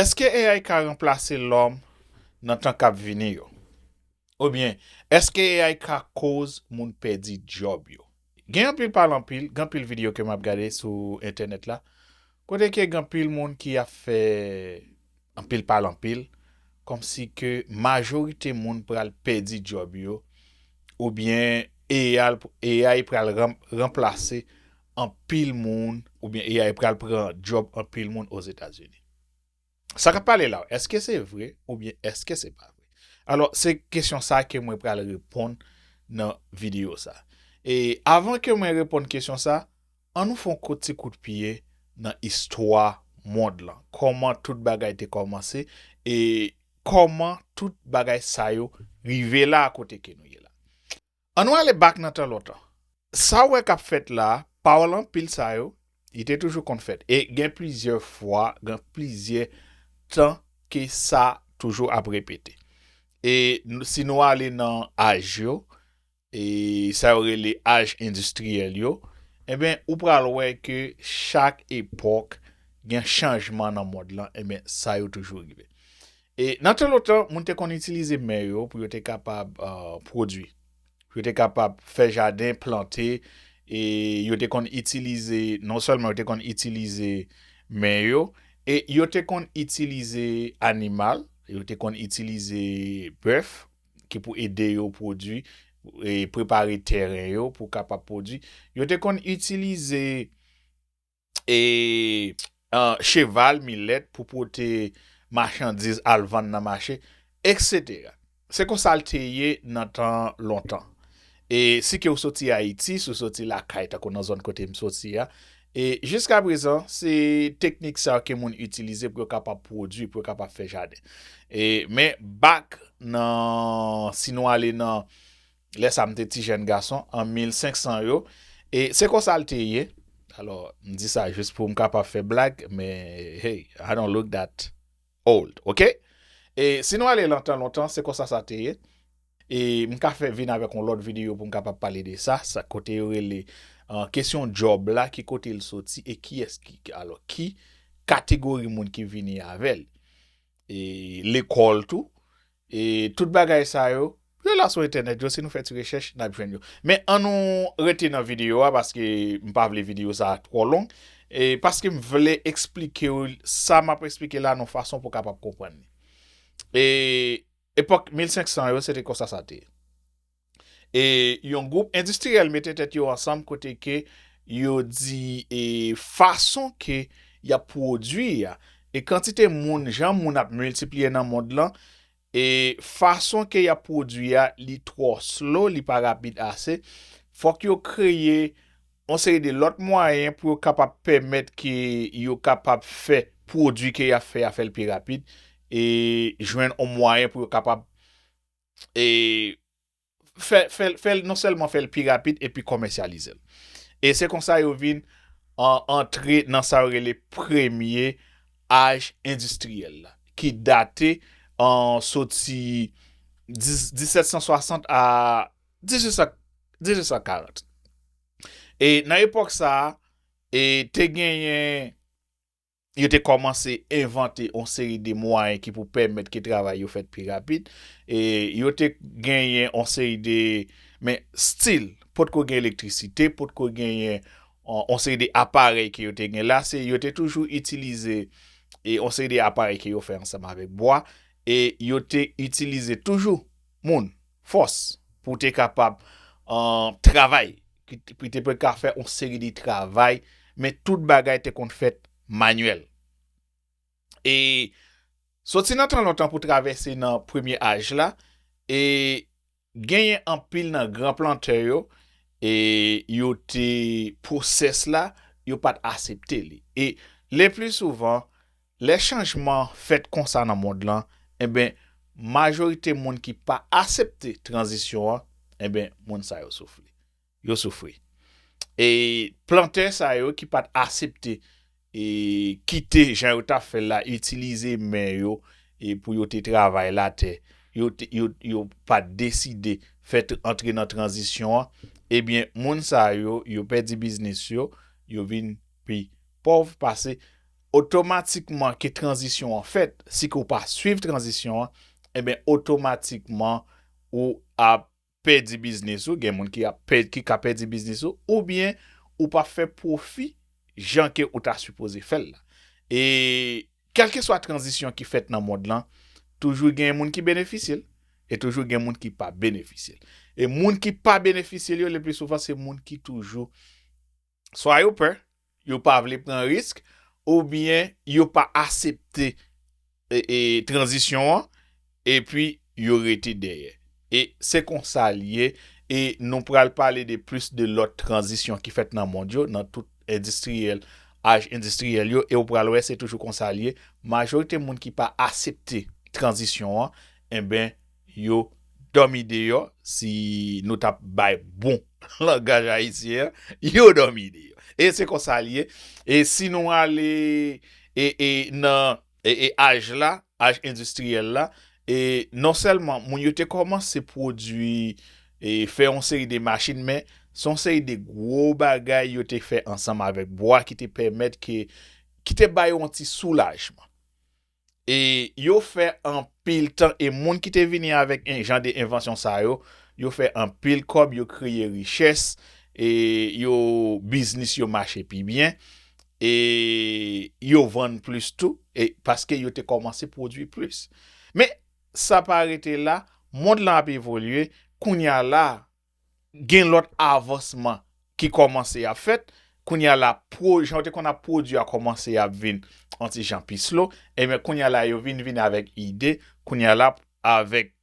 Èske AI ka ranplase lòm nan tan k ap vini yo? Oubyen, èske AI ka koz moun pèdi djòb yo? Gen anpil pale anpil, gen anpil videyo ke m ap gade sou entènèt la, kote ke gen anpil moun ki ap fè anpil pale anpil, kòmsi ke majorite moun pral pèdi djòb yo, oubyen AI pral ranplase anpil moun. Oubyen AI pral pran djòb anpil moun Ozetazini. Sa k ap pale la, èske se vre oubyen èske se pa vre? Alò, se kesyon sa ke mwen pral reponn nan videyo sa. E avan ke mwen reponn kesyon sa, an nou fè yon kout ti kout pye nan istwa mond lan. Kòman tout bagay te kòmanse e kòman tout bagay sa yo rive la kote ke nou ye la. An nou ale back nan tan lontan. Sa ou wè kap fèt la, pawòl anpil sa yo, li te toujou konn fèt. E gen plizyè fwa, gen plizyè tan ke sa toujou ap repete. E si nou ale nan aj yo, e sa yo rele aj endistriyèl yo, enben ou pral wè ke chak epòk gen chanjman nan mond lan, enben sa yo toujou rive. E nan tan lontan, moun te konn itilize men yo pou yo te kapab pwodui. Pou yo te kapab fè jaden, plante, e yo te konn itilize, non sèlman yo te konn itilize men yo, e yo te konn itilize animal, yo te konn itilize bèf ki pou ede yo pwodui, e prepare tèren yo pou kapab pwodui. Yo te konn itilize e cheval, milèt pou pote machandiz al vann nan mache, eksetera. Se konsa l te ye nan tan lontan. E si ke ou soti Ayiti, si ou soti lakay tankou nan zòn kote m soti a, e jiska prezan se teknik sa yo ke moun itilize pou yo kapab pwodui, pou yo kapab fè jaden. E men bak nan, si nou ale nan. lè sa m te ti jèn gason, an 1500 yo, e se konsa l te ye. Alò, m di sa jis pou m kapab fè blag, men, hey, I don't look that old, ok? E si nou ale lan tan lontan, se konsa sa te ye. E m ka fè vin avèk yon lòt videyo pou m kapab pale de sa, sa kote yo rele kesyon djòb la, ki kote l soti e kiyès ki, alò, ki kategori moun ki vini avè l. E lekòl tou, E tout bagay sa yo. Yo la sou entènèt yo si nou fè ti rechèch nap jwenn yo. Men an nou rete nan videyo a paske m pa vle videyo sa twò long e paske m vle eksplikew sa map eksplike la nan fason pou kapab konprann li. E epòk 1500 yo se te konsa sa te ye. E yon gwoup endistriyèl mete tèt yo ansanm kote ke yo di e fason ke y ap pwodui a, e kantite moun, jan moun ap miltipliye nan mond lan, e fason ke y ap pwodui a li twò slow, li pa rapid ase, fòk yo kreye yon seri de lòt mwayen pou yo kapab pèmèt ke yo kapab fè pwodui ke y ap fè a fè l pi rapid, e jwenn yon mwayen pou yo kapab. e fè l non sèlman fè l pi rapid epi komèsyalize l. E se konsa yo vin antre nan sa yo rele premye aj endistriyèl la ki date soti 1760 a 1840. E nan epòk sa a te genyen Yo te kòmanse envante yon seri de mwayen ki pou pèmèt ke travay yo fèt pi rapid. E yo te genyen yon seri de, men still, potko gen elektrisite, potko genyen yon seri de aparèy ke yo te gen la, se yo te toujou itilize yon seri de aparèy ke yo fè ansanm avèk bwa, e yo te itilize toujou moun. Fòs pou te kapab travay, pou te pou ka fè yon seri de travay, men tout bagay te konn fèt manyèl. E soti nan tan lontan pou travèse nan premye aj la, e genyen anpil nan gran plantè yo, e yo te pwosès la, yo pa t asepte li. E lepli souvan. Lè chanjman fèt konsa nan mond lan, enben majorite moun ki pa asepte tranzisyon an, enben moun sa yo soufri. Yo soufri. E plantè sa yo ki pa t asepte e kite jan yo t ap fè l la, itilize men yo e pou yo te travay latè, yo te, yo, yo pa t deside fè t antre nan tranzisyon an, ebyen moun sa yo, yo pèdi biznis yo, yo vin pi pòv pase. Otomatikman ke tranzisyon an fèt, si ke w pa swiv tranzisyon an, enben otomatikman ou ap pèdi biznis ou, gen moun ki ap pèdi, ki ka pèdi biznis ou, oubyen ou pa fè pwofi jan ke ou ta sipoze fè l la. E kèlkeswa tranzisyon ki fèt nan mond lan, toujou gen moun ki benefisye l, e toujou gen moun ki pa benefisye l. E moun ki pa benefisye l yo, leplisouvan se moun ki toujou. Swa yo pè, yo pa vle pran risk, oubyen yo pa asepte tranzisyon an, epi yo rete dèyè. E se konsa l ye, e nou pral pale de plis de lòt tranzisyon ki fèt nan mond yo, nan tout endistriyèl, aj endistriyèl yo, e ou pral wè se toujou konsa l ye, majorite moun ki pa asepte tranzisyon an, enben, yo domi deyo si nou tap bay bon langaj ayisyen an yo domi deyo e se konsa li ye e si nou ale e nan e aj la aj endistriyèl la e non sèlman moun yo te komanse pwodwi e fè yon seri de machin men se yon seri de gwo bagay yo te fè ansanm avèk bwa ki te pèmèt ke ki te bay yon ti soulajman. E yo fè anpil tan e moun ki te vini avèk en jan de envansyon sa yo, yo fè anpil kòb, yo kreye richès, e yo biznis yo mache pi byen, e yo vann plis tou, e paske yo te kòmanse pwodui plis. Men, sa pa rete la, mond lan ap evolye, kounye a la, Gen lòt avansman ki kòmanse ap fèt. Kounye a la, pro, jan yo te konn ap pwodui a kòmanse ap vin yon ti jan pi slow. Enben, kounye a la, yo vin vini avèk ide, kounye a la, avèk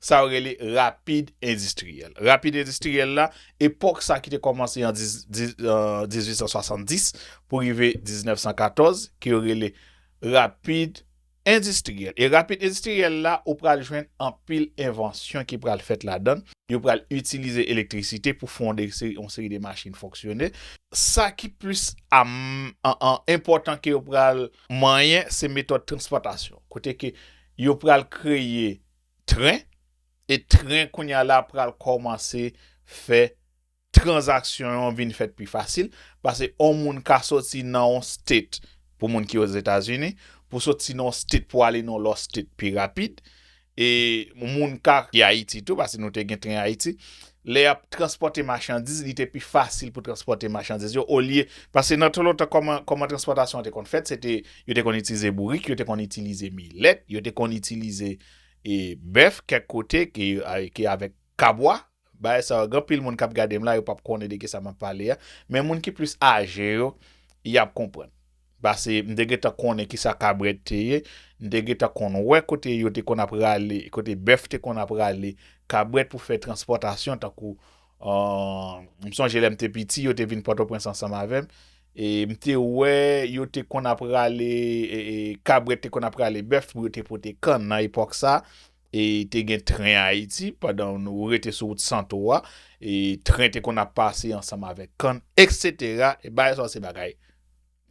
sa yo rele rapid endistriyèl. Rapid endistriyèl la, epòk sa ki te kòmanse an 1870 pou rive 1914, ke yo rele rapid Endistriyèl. E rapid endistriyèl la, ou pral jwenn anpil envansyon ki pral fèt ladan. Yo pral itilize elektrisite pou fè yon seri de machin fonksyone. Sa ki plis enpòtan ke yo pral manyen, se metòd transpòtasyon. Kote ke yo pral kreye tren, e tren kounye a la pral kòmanse fè. tranzaksyon an vin fèt pi fasil, pase on moun ka soti nan on state pou moun ki ozetazini, pou soti nan on state pou ale nan on lòt state pi rapid, e moun ka ki ayiti tou, pase nou te gen tren ayiti, lè yap transpòte machandiz li te pi fasil pou transpòte machandiz yo olye, pase nan tan lontan kòman kòman transpòtasyon an te konn fèt, se te yo te konn itilize bourik, yo te konn itilize milèt, yo te konn itilize e bèf kèk kote ki avèk kabwa. Bagay sa yo gen anpil moun kap gadem la yo pap konnen de kisa map pale a men moun ki plis aje yo yap konprann pase m te gentan konnen kisa kabrèt te ye m te gentan konn wè kote yo te konn ap rale kote bèf te konn ap rale kabrèt pou fè transpòtasyon tankou m sonje lèm te piti yo te vin pòtoprens ansanm avèm e m te wè yo te konn ap rale kabrèt te konn ap rale bèf pou yo te pote kann nan epòk sa. E te gen tren Ayiti, pandan ou rete sou wout Santo a, e tren te konn ap pase ansanm avèk kann, eksetera, e bagay sa yo se bagay,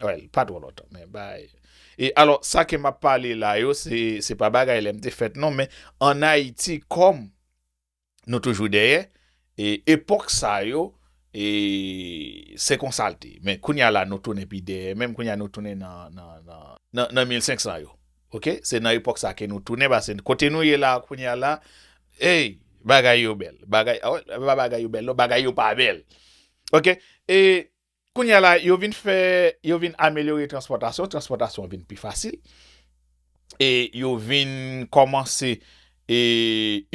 wèl, pa twò lontan, men bay. E alò, sa ke m ap pale la yo, se, se pa bagay lè m te fèt non, men ann Ayiti, kòm. Nou toujou dèyè e epòk sa yo e se konsa l te men kounya la nou tounen pi dèyè menm kounya nou tounen nan nan 1500 yo ok se nan epòk sa ke nou tounen pase kote nou ye la kounya la ey bagay yo bèl bagay a wè pa bagay yo bèl non bagay yo pa bèl ok e Kounye a la, yo vin fè, yo vin amelyore transpòtasyon, transpòtasyon an vin pi fasil, e yo vin kòmanse e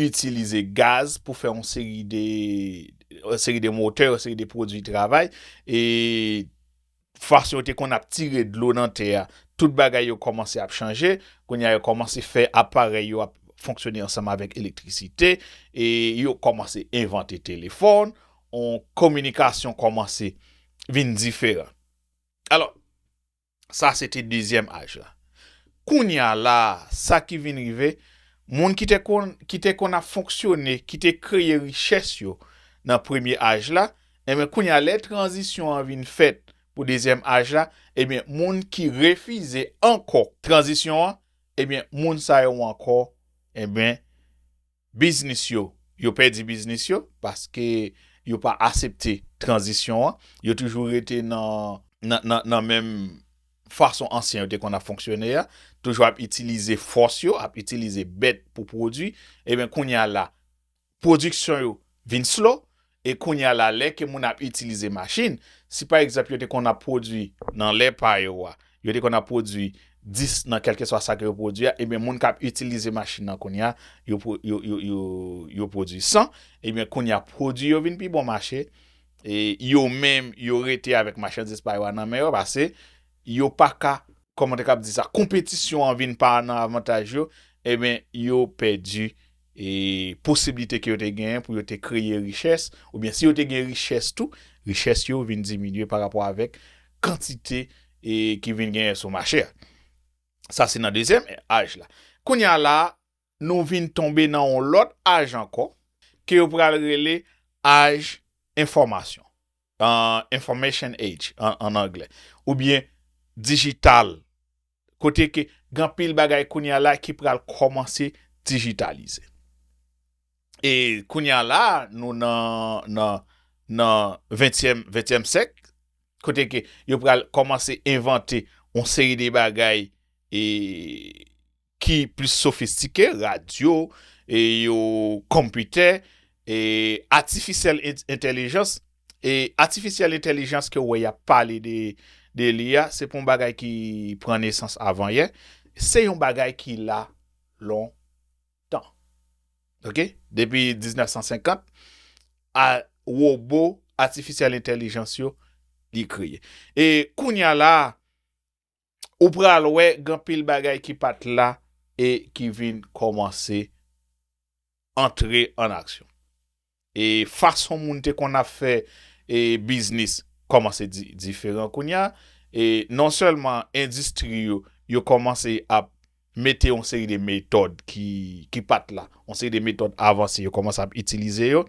itilize gaz pou fè yon seri de, yon seri de motè, yon seri de pwodui travay, e fason yo te konn ap tire dlo nan tè a, tout bagay yo kòmanse ap chanje, kounye a yo kòmanse fè aparèy yo ap fonksyone ansanm avèk elektrisite, e yo kòmanse envante telefòn, yon kominikasyon kòmanse vin diferan. Alò, sa se te dezyèm aj la. Kounye a la a, sa ki vin rive, moun ki te konn, ki te konn ap fonksyone, ki te kreye richès yo nan premye aj la, enben kounye a lè tranzisyon an vin fèt pou dezyèm aj la, enben moun ki refize ankò tranzisyon an, enben moun sa yo ankò, enben, Biznis yo, yo pèdi biznis yo paske yo pa asepte tranzisyon an, yo toujou rete nan menm fason ansyen yo te konn ap fonksyone a, toujou ap itilize fòs yo, ap itilize bèt pou pwodui, eben kounya la pwodiksyon yo vin slow, E kounya la lè ke moun ap itilize machin, si pa egzanp yo te konn ap pwodwi nan lè pa yo a, yo te konn ap pwodwi 10 nan kèlkeswa sa ke yo pwodwi a, ebyen moun kap itilize machin nan kounya yo pwodwi 100, ebyen kounya pwodwi yo vin pi bon mache, e yo menm yo rete avèk machandiz pa yo a nan men yo pase yo pa ka, kòman te kab di sa, konpetisyon an vin pa nan avantaj yo, ebyen yo pèdi e posiblite ke yo te genyen pou yo te kreye richès, oubyen si yo te gen richès tou, richès yo vin diminye pa rapò avèk kantite e ki vin genyen sou mache a. Sa se nan dezyèm aj la. Kounye a la a, nou vin tonbe nan yon lòt aj ankò, ke yo pral rele aj enfòmasyon. Information Age an anglè, oubyen dijital, kote ke gen anpil bagay kounye a la ki pral kòmanse dijitalize. E kounye a la, nou nan ventyèm syèk, kote ke yo pral kòmanse envante yon seri de bagay e ki plis sofistike, radyo, e yo konpitè, e atifisyèl entèlijans, e atifisyèl entèlijans ke w wè y ap pale de li a, se pa yon bagay ki pran nesans avan yè, se yon bagay ki la lon tan. Ok, depi 1950, a wobo atifisyèl entèlijans yo li kreye. E kounye a la a, ou pral wè gen anpil bagay ki pa t la e ki vin kòmanse antre an aksyon. E fason moun te konn ap fè biznis kòmanse diferan kounye a. E non sèlman endistri yo, yo kòmanse ap mete yon seri de metòd ki pa t la. Yon seri de metòd avanse yo kòmanse ap itilize yo.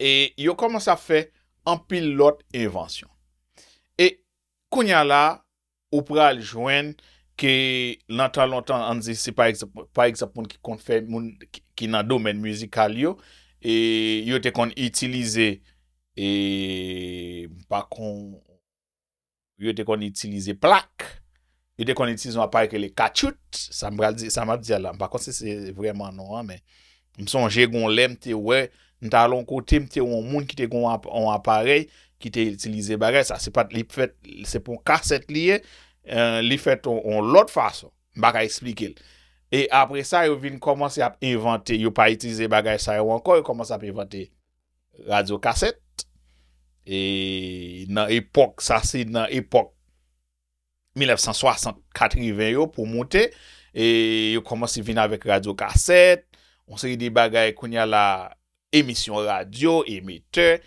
E yo kòmanse ap fè anpil lòt envansyon. E Kounya la ou pral jwenn ke lan tan lontan ann di si pa egzanp pa egzanp moun ki konn fè moun ki nan domèn mizikal yo e yo te konn itilize e m pa kon yo te konn itilize plak. Yo te konn itilize yon aparèy ki rele katchout, sa m pral di, sa m ap di a la, m pa konn si se vrèman non an men, m sonje gon lè m te wè, m t al yon kote m te wè yon moun ki te gen yon aparèy ki te itilize bagay sa, se pat li fèt, se pa yon kasèt li ye, li fèt yon lòt fason, m pa ka esplike l. E apre sa yo vin kòmanse ap envante, yo pa itilize bagay sa yo ankò, yo kòmanse ap envante radyokasèt, e nan epòk, sa se nan epòk. 1960, 80 yo pou moute, e yo kòmanse vin avèk radyo kasèt, yon seri de bagay kounye a la, emisyon radyo, emetè,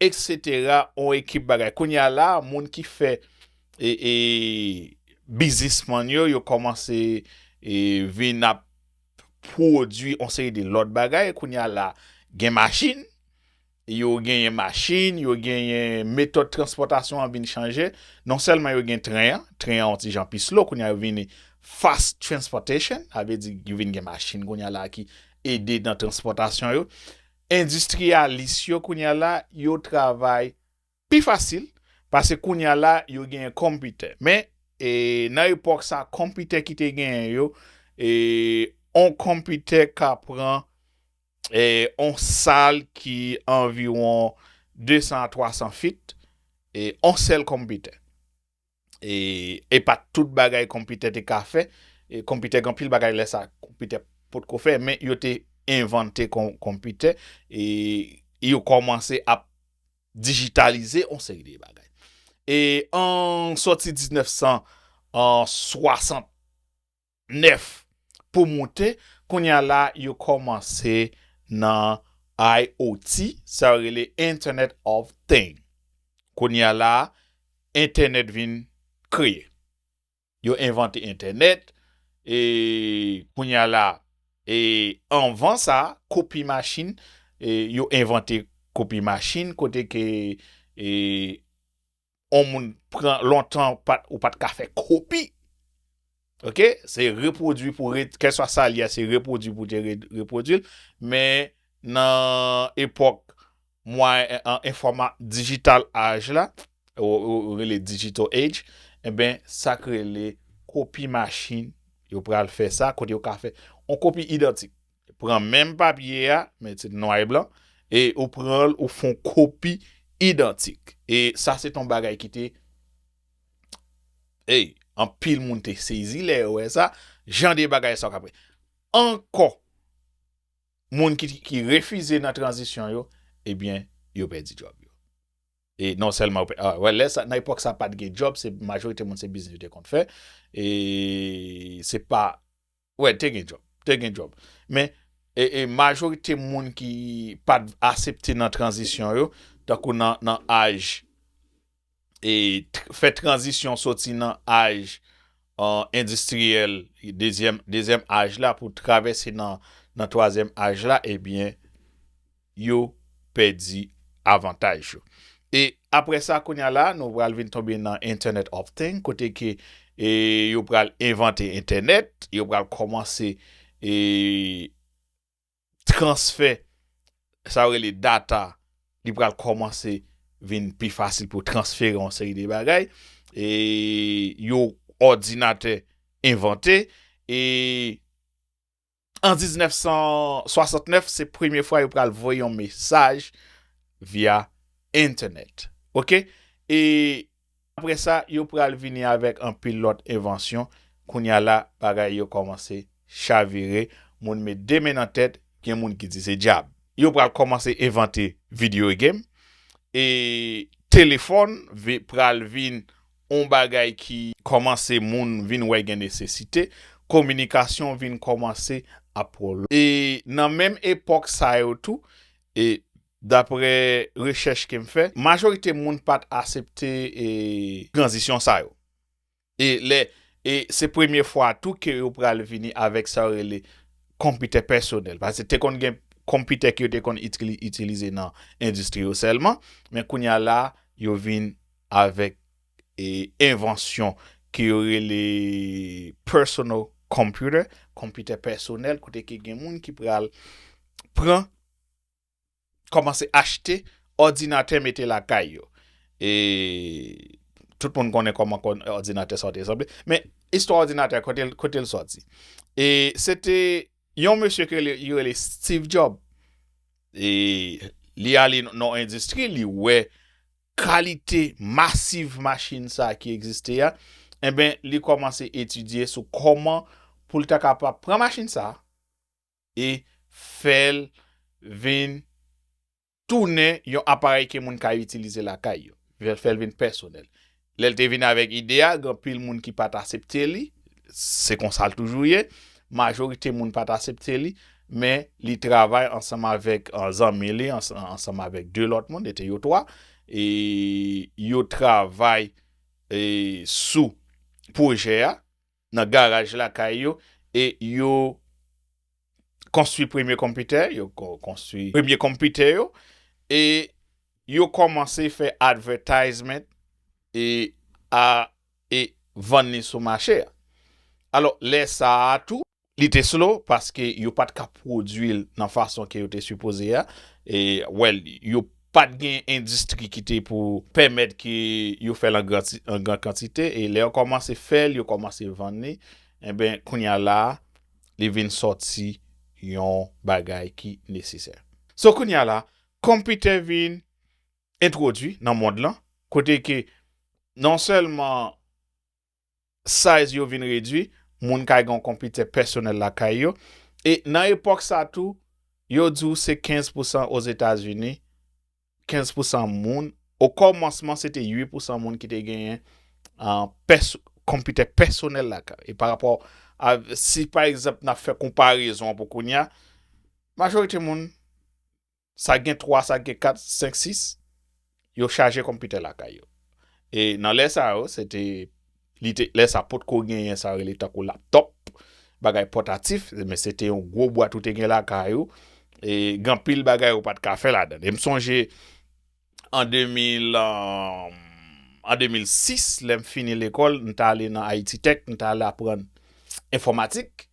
eksetera, yon ekip bagay. Kounye a la, moun ki fè e bizismann yo, yo kòmanse vin ap pwodui yon seri de lòt bagay, kounye a la, gen machin. Yo genyen machin, yo genyen metòd transpòtasyon an vin chanje. Non sèlman yo gen tren an, tren an yon ti jan pi slow, kounye a yo vini fast transportation, sa vle di yo vin gen machin kounye a la ki ede nan transpòtasyon yo. Endistriyalis yo kounye a la, yo travay. Pi fasil, pase kounya la yo genyen konpitè. Men, e nan epòk sa konpitè ki te genyen yo, e on konpitè ka pran e on sal ki anviwon 200 a 300 fit, e on sèl konpitè. E epa tout bagay konpitè te ka fè. E konpitè gen pil bagay lè sa konpitè pot ko fè. Men yo te envante konpitè. E yo komanse ap dijitalize yon seri de bagay. E an soti 1960. 9. Pou moute, kounya la yo kòmanse nan IOT, sa yo rele Internet of Thing. Kounya la entènèt vin kreye. Yo envante entènèt, e kounya la e anvan sa kopi machin, yo envante kopi machin kote ke e on moun pran lontan ou pat ka fè kopi ok se repwodui pou ret kèlswa sa li a se repwodui pou te repwodui l men nan epòk enfòma digital age la ou rele digital age enben sa k rele kopi machin yo pral fè sa kote yo ka fè on kopi idantik Pran menm papye a, men se nwa e blan, e ou pran l ou fè yon kopi idantik. E sa se te yon bagay ki te, ey, anpil moun te sezi lè yo wè sa, jan de bagay sa w ka pran. Ankò, moun ki refize nan tranzisyon yo, ebyen, yo pèdi djòb yo. E non sèlman yo pèdi, wè lè sa, nan epòk sa pa t gen djòb, se majorite moun se biznis yo te konn fè, e se pa. Wè te gen djòb, te gen djòb. Men majorite moun ki pat asepte nan tranzisyon yo, tankou nan aj, fè tranzisyon soti nan aj endistriyèl, dezyèm aj la pou travèse nan twazyèm aj la, ebyen, yo pèdi avantaj yo. E aprè sa kounye a la nou pral vin tonbe nan Internet of thing kote ke yo pral envante entènèt, yo pral kòmanse transfè sa yo rele data li pral kòmanse vin pi fasil pou transfere yon seri de bagay e yon òdinatè envante e An 1969 se premye fwa yo pral voye yon mesaj via entènèt. Ok e apre sa yo pral vini avèk anpil lòt envansyon kounye a la bagay yo kòmanse chavire moun met 2 men nan tèt gen moun ki di se dyab. Yo pral kòmanse envante video game e telefòn pral vin yon bagay ki. Kòmanse moun vin wè gen nesesite, kominikasyon vin kòmanse ap. E nan menm epòk sa yo tou, e daprè rechèch ke m fè, majorite moun pa t asepte e. Tranzisyon sa yo. E lè, e se premye fwa tou ke yo pral vini avèk sa yo rele konpitè pèsonèl. Pase te konn gen konpitè ke yo te konn itilize nan endistri yo sèlman, men kounye a la yo vin. avèk envansyon ke yo rele personal computer, konpitè pèsonèl, kote ke gen moun ki pral pran, kòmanse achte òdinatè mete lakay yo. E tout moun konnen kòman òdinatè sa yo te sanble. Men, istwa òdinatè, kote l sòti? E se te yon mesye ke yo rele Steve Job. E li ale nan yon endistri, li wè. kalite masiv machin sa a ki egziste a, enben li kòmanse etidye sou kòman pou l ta kapab pran machin sa a e fè l vin tounen yon aparèy ke moun ka itilize lakay yo, fè l vin pèsonèl. Lè l te vin avèk ide a, gen anpil moun ki pa t asepte li, Se konsa l toujou ye. Majorite moun pa t asepte li, men li travay ansanm avèk zanmi li, ansanm avèk de lòt moun, e te yo twa, e yo travay sou pwojè a nan garaj lakay yo, e yo. konstwi premye konpitè, yo konstwi premye konpitè yo, e yo kòmanse fè advertisement e a e vann li sou mache a. Alò, lè sa a tou, li te slow paske yo pa t ka pwodui l nan fason ke yo te sipoze a, e wè l, yo pa t gen endistri ki te pou pèmèt ke yo fè l an gran an gran kantite, e lè yo kòmanse fè l, yo kòmanse vann li, enben, kounye a la a, li vin sòti yon bagay ki nesesè. So kounya la, konpitè vin entwodui nan mond lan, kote ke non sèlman size yo vin redui, moun ka gen yon konpitè pèsonèl lakay yo, e nan epòk sa tou, yo di w se 15 pousan Ozetazini 15 pousan moun, o kòmansman se te 8 pousan moun ki te genyen konpitè pèsonèl lakay. E pa rapò, si pa egzanp nan fè konparezon pou kounya, majorite moun, sa gen 3, sa gen 4, 5, 6, yo chaje konpitè lakay yo. E nan lè sa yo, se te. Li te, lè sa pot ko genyen sa yo rele tankou laptop, bagay pòtatif, men se te yon gwo bwat ou te gen lakay ou, e gen anpil bagay ou pat ka fè ladan l. E m sonje an 2000, an 2006 lè m fini lekòl, m t ale nan Ayiti Tèk, m t al aprann enfòmatik,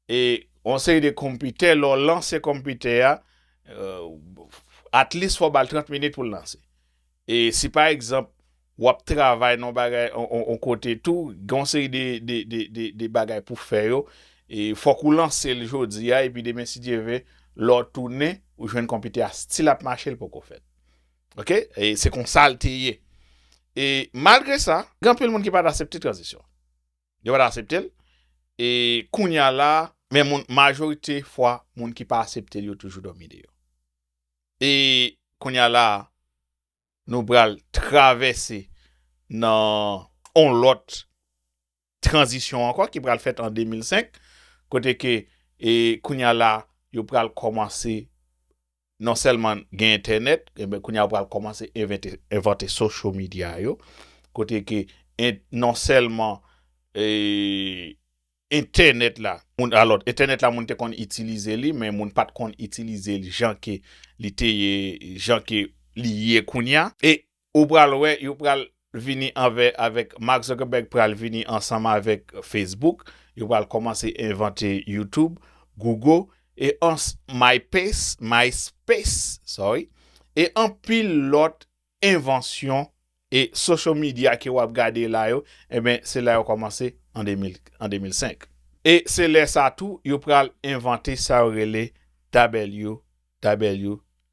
E yon seri de konpitè lè w lanse konpitè a at least fò w bal 30 minit pou l lanse. E si pa egzanp wap travay nan yon bagay yon kote tou gen yon seri de bagay pou fè yo e fòk ou lanse l jodi a epi demen si Dye ve lè w tounen ou jwenn konpitè a stil ap mache l poko fèt ok e se konsa l te ye e malgre sa gen anpil moun ki pat asepte tranzisyon. Yo pa t asepte l. E kounye a la a, men moun, majorite fwa, moun ki pa asepte l yo toujou dòmi deyò. E kounye a la a, nou pral travèse nan yon lòt tranzisyon ankò ki pral fèt an 2005, kote ke e kounye a la a, yo pral kòmanse Non sèlman gen entènèt, enben kounye a yo pral kòmanse envante social media yo, kote ke non sèlman entènèt la, moun alò entènèt la moun te konn itilize li men moun pat konn itilize li jan ke li te ye, jan ke li ye kounye a. E Ou pral wè yo pral vini anvè avèk Mark Zuckerberg pral vini ansanm avèk Facebook, yo pral kòmanse envante YouTube, Google e ans MyPace, MySpace, sorry, e anpil lòt envansyon e social media ke wap gade la yo enben se la yo kòmanse an 2005. E se lè sa tou yo pral envante sa yo rele WWW.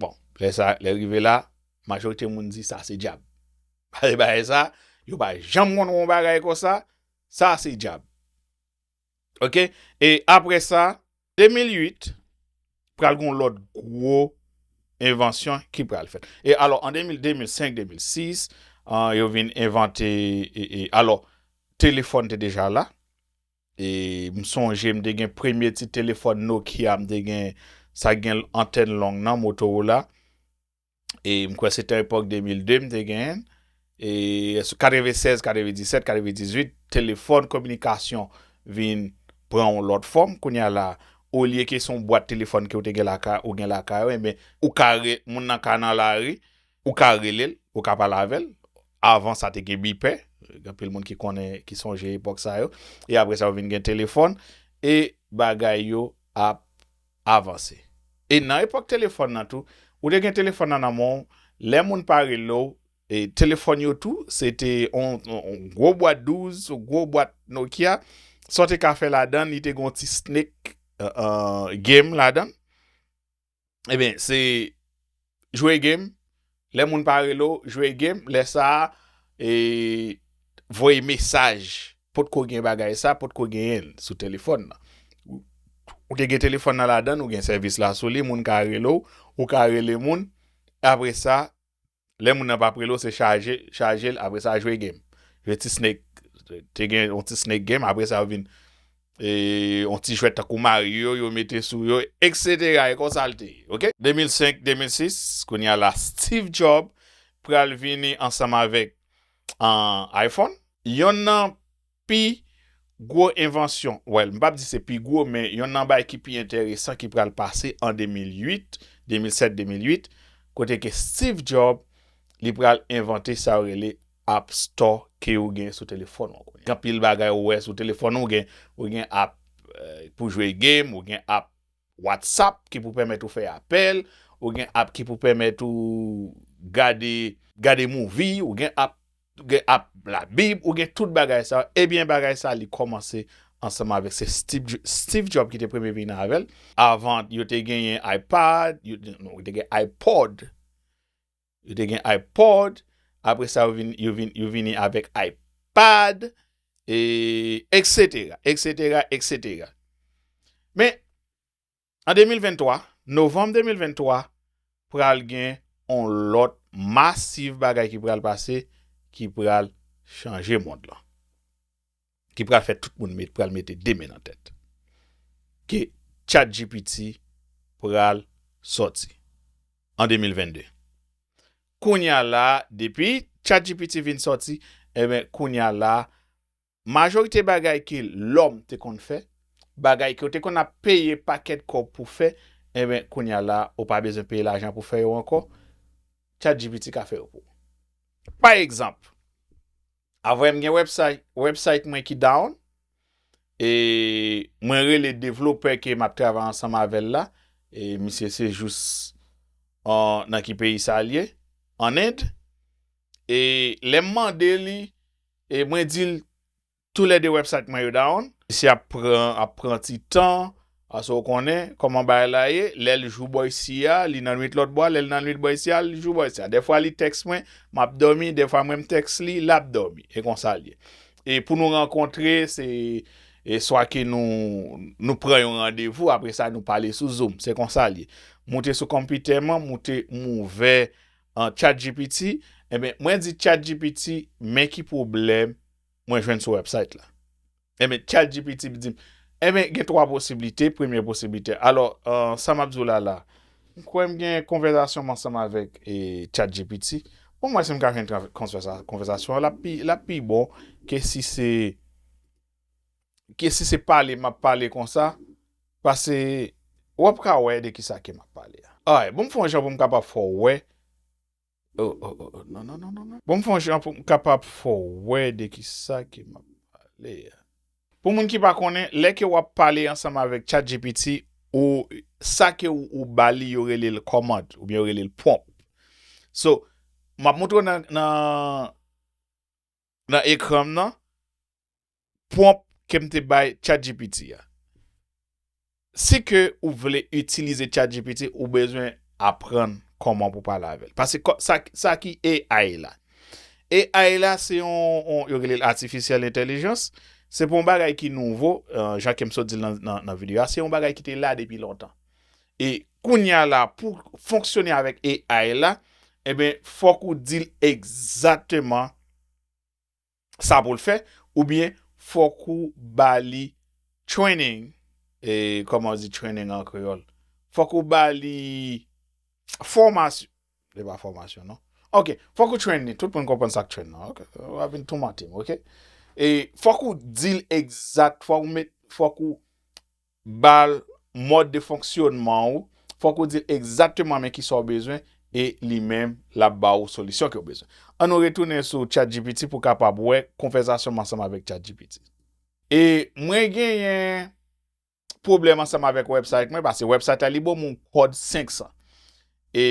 Bon, lè sa, lè rive la, majorite moun di sa se djab. Pase bagay sa, yo pa janm konn wè yon bagay kon sa, sa se djab. Ok, e apre sa, 2008, pral gon lòt gwo envansyon ki pral fèt. E alò, an 2000, 2005, 2006, yo vin envante, e alò, telefòn te deja la. E m sonje m te gen premye ti telefòn Nokia m te gen sa gen antèn long nan Motorola. E m kwè se te epòk 2002 m te genyen l. E sou 96, 97, 98 telefòn kominikasyon vin pran yon lòt fòm. Kounye a la olye ke se yon bwat telefòn ke ou te gen lakay ou gen lakay ou enben ou ka rele moun nan ka nan lari. Ou ka rele l, ou ka pale avè l. Avan sa te gen bipè, gen anpil moun ki konnen, ki sonje epòk sa yo. E apre sa yo vin gen telefòn. E bagay yo ap avanse. E nan epòk telefòn nan tou, ou te gen telefòn nan nan men w, lè moun pa rele w, e telefòn yo tou, se te yon gwo bwat 12, yon gwo bwat Nokia. Sa w te ka fè ladan li te gen yon ti snake game ladan l. Ebyen se jwe game lè moun pa rele w jwe game lè sa e voye mesaj potko gen bagay sa potko genyen l sou telefòn nan ou te gen telefòn nan ladan ou gen sèvis la sou li moun ka rele w ou ka rele moun apresa lè moun nan pa ap rele w se chaje chaje l apre sa jwe game jwe ti snake te gen yon ti snake game apre sa yo vin yon ti jwèt tankou mario yo mete sou yo etc e konsa l te ye ok. 2005 2006 kounya la Steve Job pral vini ansanm avèk iPhone yon nan Pi gwo envansyon, well m pap di se pi gwo men yonn nan bay ki pi enteresan ki pral pase an 2008, 2007, 2008 kote ke Steve Job li pral envante sa yo rele App Store ke ou gen sou telefòn ou. Gen anpil bagay ou wè sou telefòn ou gen, ou gen app pou jwe game, ou gen app WhatsApp ki pou pèmèt ou fè apèl, ou gen app ki pou pèmèt ou gade, gade movie, ou gen app ou gen ap la bib ou gen tout bagay sa e byen bagay sa li komanse ansanm avek se Steve Job ki te premye vini avel avan yo te genyen ipad yo te gen ipod yo te gen ipod apre sa yo vini avek ipad e eksetera eksetera eksetera men An 2023, Novanm 2023, pral gen on lòt masiv bagay ki pral pase ki pral chanje mond lan. Ki pral fè tout moun met pral mete 2 men nan tèt. Ke chatgpt pral sòti an 2022. Kounya la, depi chatgpt vin sòti, enben kounya la Majorite bagay ke lòm te konn fè, bagay ke ou te konn ap peye pakèt kòb pou fè, enben kounye a la a, ou pa bezwen peye lajan pou fè yo ankò, ChatGPT ka fè yo pou ou. Pa egzanp, avwe m gen wèbsay, wèbsayt mwen ki down, e mwen rele devlopè ke m ap travay ansanm avè l la, e misye se jous an, nan ki peyi sa li ye? An End. E lè m mande li, E mwen di l tou lè 2 website mwen yo down. Mesye ap pran ap pran ti tan pase ou konnen koman bagay la ye lè l jou bò isi a li nan nwit lòt bò a lè l nan nwit bò isi a li jou bò isi a dèfwa li tèks mwen m ap dòmi dèfwa mwen m tèks li l ap dòmi e konsa l ye e pou nou rankontre se e swa ke nou nou pran yon randevou apre sa nou pale sou zoom se konsa l ye m moute sou konpitè m an m moute m ouvè An chat gpt enben mwen di chat gpt men ki pwoblèm mwen jwenn sou website la enben chat gpt dim enben gen 3 posiblite premye posiblite alò sa map di w la la m kwè m gen konvèzasyon m ansanm avèk chat gpt pou m wè si m ka jwenn konvèzasyon lap pi bon ke si se Ke si se pale map pale konsa pase wap ka wè de kisa ke map pale a. Ay bon m fon jan pou m kapab fè w wè oh oh oh non non non non bon m fon jan pou m kapab fè w wè de kisa ke map pale a. Pou moun ki pa konnen, lè ke wap pale ansanm avèk chatgpt ou sa ke ou ba li yo rele l kòmand ou byen yo rele l prompt. So map montre w nan. nan ekran m nan pwonp ke m te bay chatgpt a. Si ke ou vle itilize chatgpt ou bezwen aprann kòman pou pale avèl. Pase sa ki AI la. AI la se yon yo rele l atifisyèl entèlijans. Se pa yon bagay ki nouvo jan ke m sot di l nan video a. Se yon bagay ki te la depi lontan. E kounya la pou fonksyone avèk AI la, enben fòk ou di l egzateman sa pou l fè oubyen fòk ou ba li training, e kòman yo di training an kreyòl? Fòk ou ba li fòmasyon, se pa fòmasyon non, ok, fòk ou train li, tout moun konprann sa k train lan ok, w ap vin toumante m ok, e fòk ou di l egzat, fòk ou met, fòk ou. ba l mòd de fonksyonman ou, fòk ou di l egzakteman men kisa w bezwen e li menm l ap ba ou solisyon ke w bezwen. An nou retounen sou chatgpt pou w kapab wè konvèzasyon m ansanm avèk chatgpt. E mwen genyen pwoblèm ansanm avèk wèbsayt mwen pase wèbsayt la li ban m yon kòd 500 e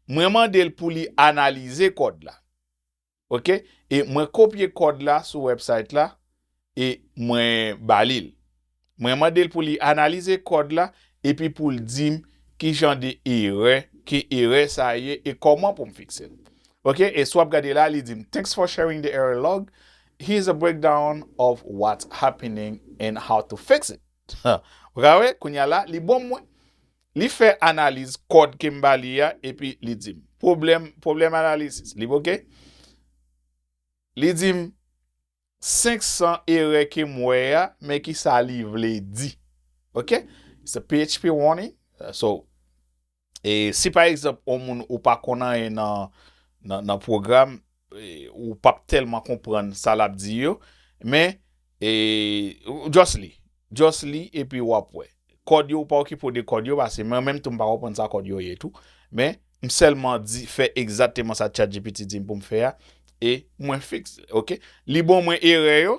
mwen mande l pou li analize kòd la. Ok e mwen kopye kòd la sou website la e mwen balil mwen mandel pou li analize kòd la epi poul dim kijan de erè ke erè sa ye e kòman poum fiksel ok e si wap gade la li dim thanks for sharing the error log here's a breakdown of what's happening and how to fix it ou ka wè kounya la li bonm mwen Li fè analiz kòd ke m ba li a epi li di m. Pwoblèm, pwoblèm analisis li ok. Li di m, 500 erè ke m wè a, men ki sa li vle di. Ok. It's a php warning. So, e si pa egzanp on moun ou pa konn anyen nan, nan, nan pwogram. Ou pap telman konprann sa lap di yo men just li just li epi wap wè kòd yo ou pa okipe w de kòd yo pase mwen menm tou m pa konprann sa kòd yo ye tou men m sèlman di fè egzateman sa chatgpt di m pou m fè a e mwen fix ok li bon mwen erè yo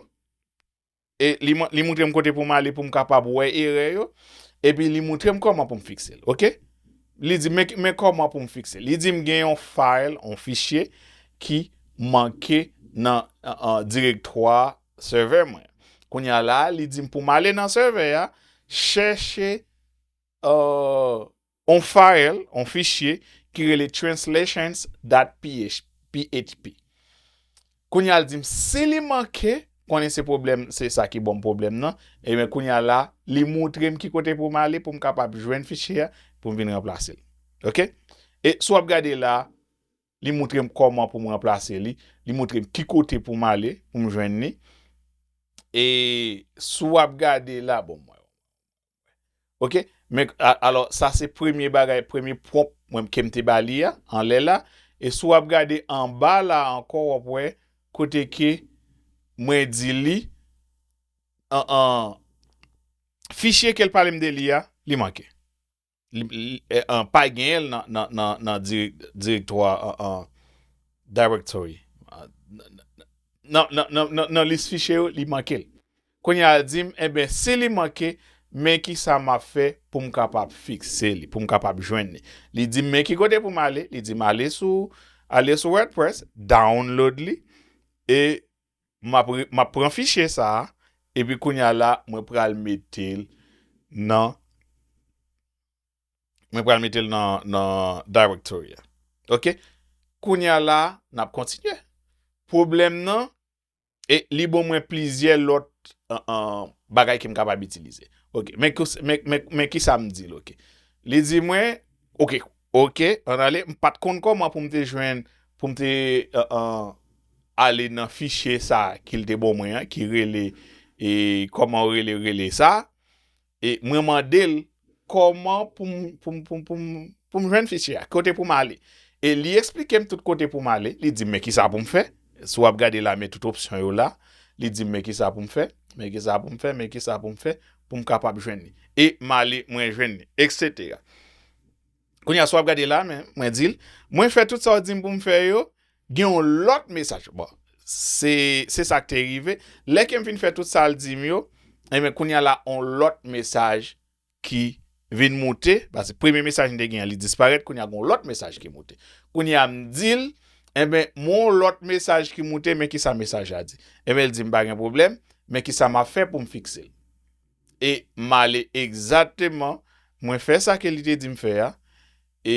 e li moutre m kote pou m ale pou m kapab wè erè yo, epi li moutre m kòman pou m fikse l, ok. Li di m, men kòman pou m fikse l. Li di m gen yon fayl, yon fichye ki manke nan direktwa sèvè mwen. Kounye a la, li di m pou m ale nan sèvè a, chèche, euh. on fayl, on fichye, ki rele translations dot php. Kounye a l di m si li manke, konnen se pwoblèm, se sa ki ban m pwoblèm nan, eben kounye a la, li moutre m ki kote pou m ale pou m kapab jwenn fichye a, pou m vin ranplase l. Ok? E si w ap gade la a, li moutre m kòman pou m ranplase li, li moutre m ki kote pou m ale pou m jwenn li. E si w ap gade la, bon mwen. Ok, men alò sa se premye bagay, premye pwomp mwen kem te ba li a, anlè la, e si w ap gade anba la ankò w ap wè kote ke mwen di li fichye ke l pale m de li a, li manke. Pa genyen l nan direktwa directory nan lis fichye yo li manke l. Kounye a l di m, Enben, si li manke, men ki sa m ap fè pou m kapab fikse li, pou m kapab jwenn li. Li di m, Men ki kote pou m ale. Li di m, Ale sou, ale sou WordPress, download li, e m ap, m ap pran fichye sa a, epi kounye a la, mwen pral mete l nan, mwen pral mete l nan, nan Directory a. Ok? Kounye a la, n ap kontinye. Pwoblèm nan, E li bon mwen plizyè lòt bagay ke m kapab itilize. Ok, men ki sa m di l ok. Li di mwen, ok, ok, an ale, m pa t konn kòman pou m te jwenn, pou m te ale nan fichye sa ki l te bon mwen an, ki rele, e kòman rele, rele sa. E mwen mande l, Kòman pou m, pou m, pou m, pou m, pou m jwenn fichye a? Kote pou m ale? E li esplike m tout kote pou m ale. Li di m, Men kisa pou m fè? Si w ap gade la, men tout opsyon yo la. Li di m, Men kisa pou m fè? Men kisa pou m fè? Men kisa pou m fè pou m kapab jwenn li? E m ale, mwen jwenn li. Eksetera. Kounye a sa w ap gade la, men, mwen di l, Mwen fè tout sa w di m pou m fè yo, gen yon lòt mesaj. Bon, se, se sa k te rive. Lè ke m fin fè tout sa l di m yo, enben, kounye a la, yon lòt mesaj ki vin moute, paske premye mesaj m te gen an, li disparèt, kounye a gen yon lòt mesaj ki moute. Kounye a m di l, Enben, mwen yon lòt mesaj ki moute, men kisa mesaj la di? Enben, l di m, Pa gen pwoblèm, men kisa m ap fè pou m fikse l? E m ale egzakteman, mwen fè sa ke li te di m fè a, e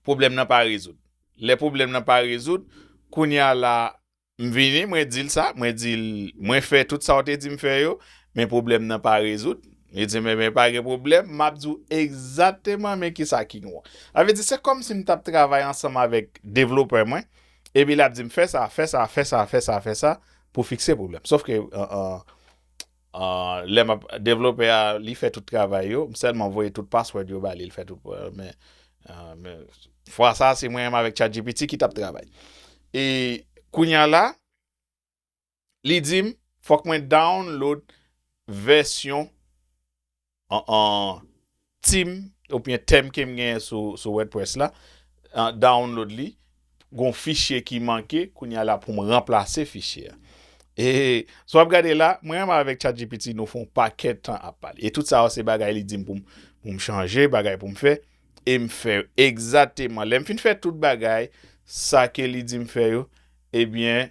pwoblèm nan pa rezoud. Lè pwoblèm nan pa rezoud, kounye a la, m vini, mwen di l sa, mwen di l, mwen fè tout sa ou te di m fè yo, men pwoblèm nan pa rezoud. Li di m, enben pa gen pwoblèm, m ap di w egzakteman men kisa ki nou an. Sa vle di, se kòmsi m t ap travay ansanm avèk devlopè mwen, Epi lap dim fè sa, fè sa, fè sa, fè sa, fè sa pou fikse pwoblèm. Sof ke lè map devlopè a li fè tout travay yo, m sèlman voye tout password yo ba li, li fè tout pou mwen. Men fwa sa se mwen menm avèk chatgpt ki tap travay. E kounya la. Li di m fòk mwen download vèsyon team oubyen theme ke m genyen sou wordpress la, download li, gon fichye ki manke, kounye a la pou m ranplase fichye a. E sa w ap gade la, mwen menm avèk chatgpt nou fè yon pakèt tan ap pale. E tout sa yo se bagay li di m pou m chanje, bagay pou m fè, e m fè yo egzateman. Lè m fin fè tout bagay sa ke li di m fè yo, ebyen.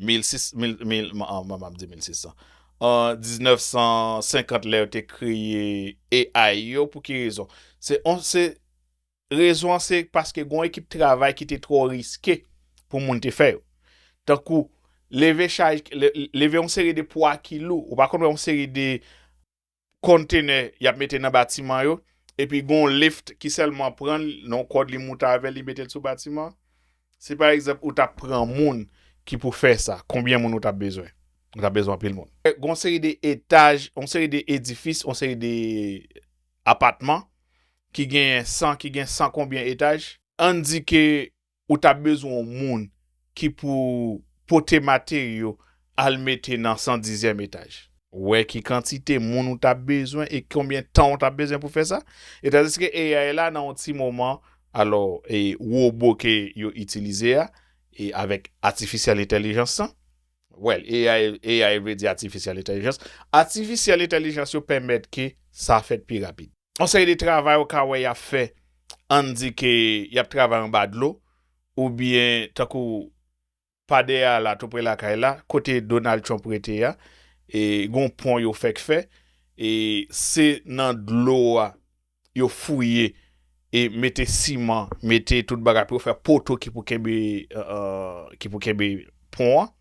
1950 lè yo te kreye AI yo pou ki rezon? Rezon an se paske gon ekip travay ki te twò riske pou moun te fè yo. Tankou leve yon seri de pwa ki lou, ou pa konn wè yon seri de Kontenè y ap mete nan batiman yo, epi gen yon lift ki sèlman pran l, nan yon kòd li moute avè l, li mete l sou batiman an. Si pa egzanp ou t ap pran moun ki pou fè sa, konbyen moun ou t ap bezwen? Ou t ap bezwen anpil moun. Gen yon seri de etaj, yon seri de edifis, yon seri de apatman ki genyen san, ki gen san konbyen etaj? Ann di ke ou ta bezwen yon moun ki pou pote materyo al mete nan san dizyèm etaj. Wè ki kantite moun ou ta bezwen e konbyen tan ou ta bezwen pou fè sa. E tandiske AI la nan yon ti moman, alò e wobo ke yo itilize a, e avèk atifisyèl entèlijans lan, wèl AI vle di atifisyèl entèlijans, atifisyèl entèlijans yo pèmèt ke sa fèt pi rapid. yon seri de travay ou ka wè y ap fè, ann di ke y ap travay anba dlo, oubyen tankou pa dèyè a la, toupre lakay la, kote Donald Trump rete a, e gen yon pon yo fèk fè, e se nan dlo a yo fouye e mete siman, mete tout bagay pou yo fè poto ki pou kenbe, ki pou kenbe pon an.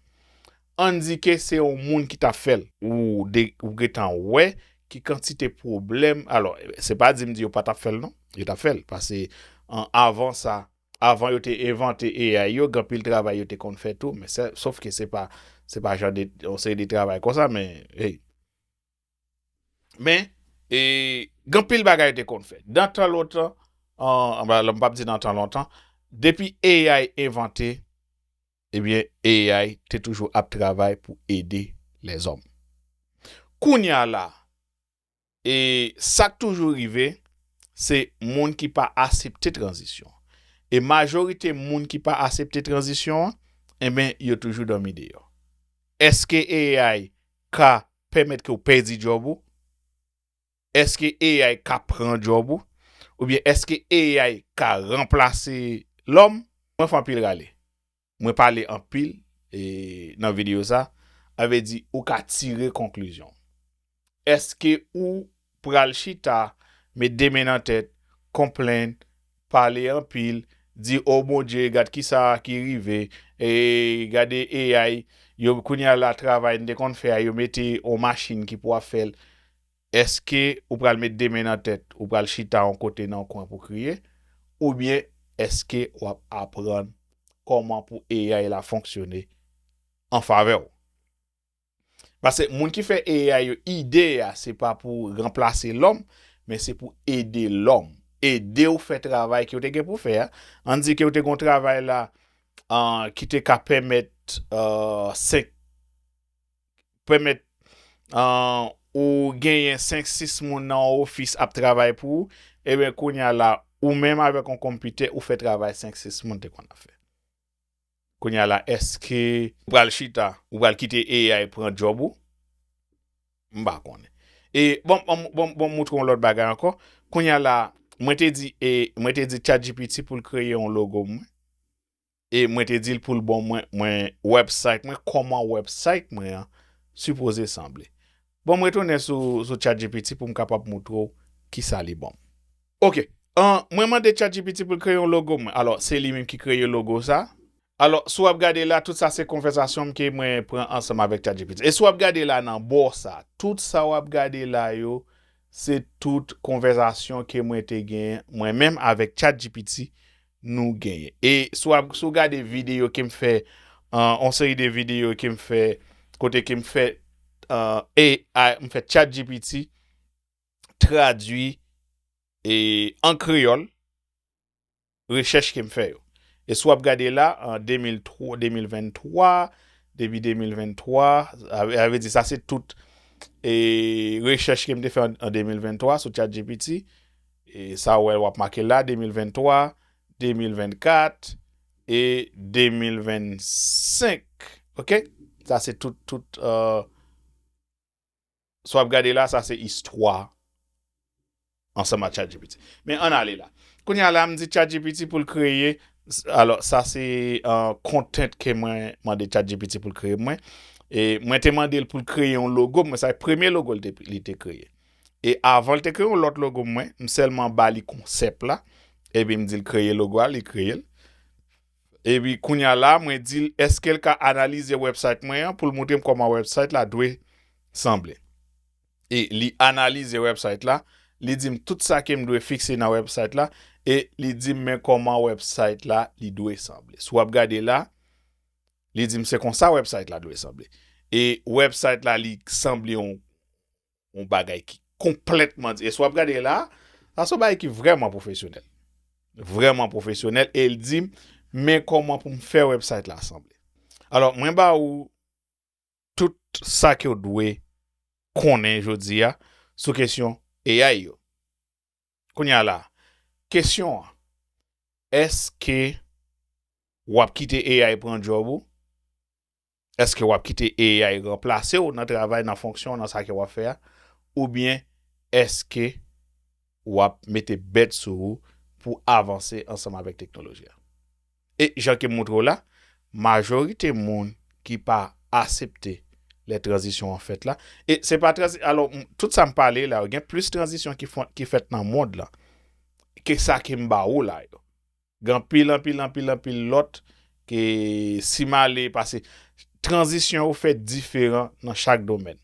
Endike se yon moun ki ta fè l. Ou gentan wè ki kantite pwoblèm, alò, se pa di m di yo pa ta fè l non, yo ta fè l, pase avan sa, avan yo te envante AI yo, gen anpil travay yo te konn fè tou, men sè, sof ke se pa, se pa jan de, yon seri de travay konsa, men, hey, men, e, gen anpil bagay yo te konn fè, dan tan lontan, an, m pa p di nan tan lontan, depi AI envante, Ebyen AI te toujou ap travay pou ede lèzòm. Kounya la e sak toujou rive se moun ki pa asepte tranzisyon. E majorite moun ki pa asepte tranzisyon an enben yo toujou dòmi deyò. Eske AI ka pèmèt ke w pèdi djòb ou? Èske AI ka pran djòb ou? Oubyen èske AI ka ranplase lòm? Mwen fè anpil rale. Mwen pale anpil nan videyo sa, sa vle di ou ka tire konklizyon. Èske ou pral chita, met 2 men nan tèt, konplenn, pale anpil, di oh Bondye gad kisa ki rive, gade AI, yo kounye a la travay n te konn fè a yo mete yon machin ki pou ap fè l. Èske ou pral met de men nan tèt, ou pral chita yon kote nan yon kwen pou kriye, oubyen èske w ap aprann kòman pou AI la fonksyone an favè w? Pase moun ki fè AI yo, ide a se pa pou ranplase lòm, men se pou ede lòm, ede w fè travay ke w te gen pou fè a. Ann di ke w te gen yon travay la ki te ka pèmèt 5. pèmèt ou genyen 5, 6 moun nan yon ofis ap travay pou ou, eben kounye a la, ou menm avèk yon konpitè, ou fè travay 5, 6 moun te konn ap fè. Kounye a la, èske ou pral chita, ou pral kite AI pran djòb ou? M pa konnen. E, bon, bon, bon moutre yon lòt bagay ankò. Kounye a la, mwen te di, mwen te di Chat GPT pou l kreye yon logo mwen. e mwen te dil poul bon mwen mwen website mwen koman website mwen an sipoze sanble bon mwen retounen sou sou chat gpt poum kapab moutre w kisa li bonm ok an mwen mande chat gpt poul kreye yon logo mwen alò se li menm ki kreye logo sa alò si wap gade la tout sa se konvèsasyon m ke mwen pran ansanm avèk chat gpt e si wap gade la nan bò sa tout sa wap gade la yo se tout konvèsasyon ke mwen te gen mwen menm avèk chat gpt nou genyen e si wap si w gade videyo kem fè yon seri de videyo kem fè kote kem fè AI mfè chat GPT tradwi e an kreyòl rechèch kem fè yo e si wap gade la an 2003 2023 depi 2023 a vle di sa se tout e rechèch kem te fè an 2023 sou chat GPT E sa ou wè wap make la 2023, 2024 e 2025 ok sa se tout tout sa wap gade la sa se istwa ansanm ak chatgpt men ann ale la kounye a la m di chatgpt poul kreye alò sa se content ke mwen mande chatgpt poul kreye mwen e mwen te mandel poul kreye yon logo mwen sa premye logo li te kreye. E avan l te kreye yon lòt logo mwen, m sèlman ba li konsèp la, epi m di l kreye logo a, li kreye l. Epi kounya la mwen di l eske l ka analize website mwen an pou l moutre m kòman website la dwe sanble. E li analize website la, li di m tout sa ke m dwe fikse nan website la, e li di m men kòman website la li dwe sanble. Si w ap gade la, li di m se konsa website la dwe sanble. E website la li sanble yon yon bagay ki konplètman di. E sa w ap gade la, sa se yon bagay ki vrèman pwofesyonèl. Vrèman pwofesyonèl. E l di m, men kòman pou m fè wèbsayt la sanble. Alò, mwen ba ou tout sa ke w dwe konnen jodi a sou kesyon AI yo. Kounye a la, kesyon an, èske w ap kite AI pran djòb ou? Eske wap kite AI ranplase w nan travay, nan fonksyon, nan sa ke wap fè a? Oubyen eske wap mete bèt sou ou pou avanse ansanm avèk teknoloji a? E jan ke m moutre w la, majorite moun ki pa asepte lè tranzisyon an fèt la, e se pa tranzi, alò, tout sa m pale la yo, gen plis tranzisyon ki fèt nan mond lan ke sa ke m ba ou la yo. Gen anpil, anpil, anpil, anpil lòt ke si m ale pase. Tranzisyon yo fèt diferan nan chak domèn.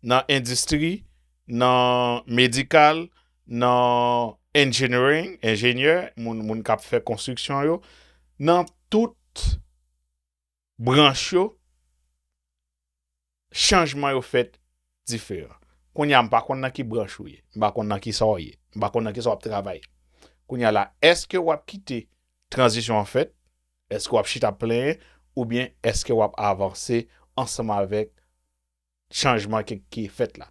Nan endistri, nan medikal, nan engineering, enjenyè, moun k ap fè konstriksyon yo, nan tout branch yo, chanjman yo fèt diferan. Kounye a m pa konn nan ki branch ou ye, m pa konn nan ki sa w ye, m pa konn nan ki sa w ap travay. Kounye a la, èske w ap kite tranzisyon an fèt, èske w ap chita ap plenyen, oubyen èske w ap avanse ansanm avèk chanjman ki fèt la?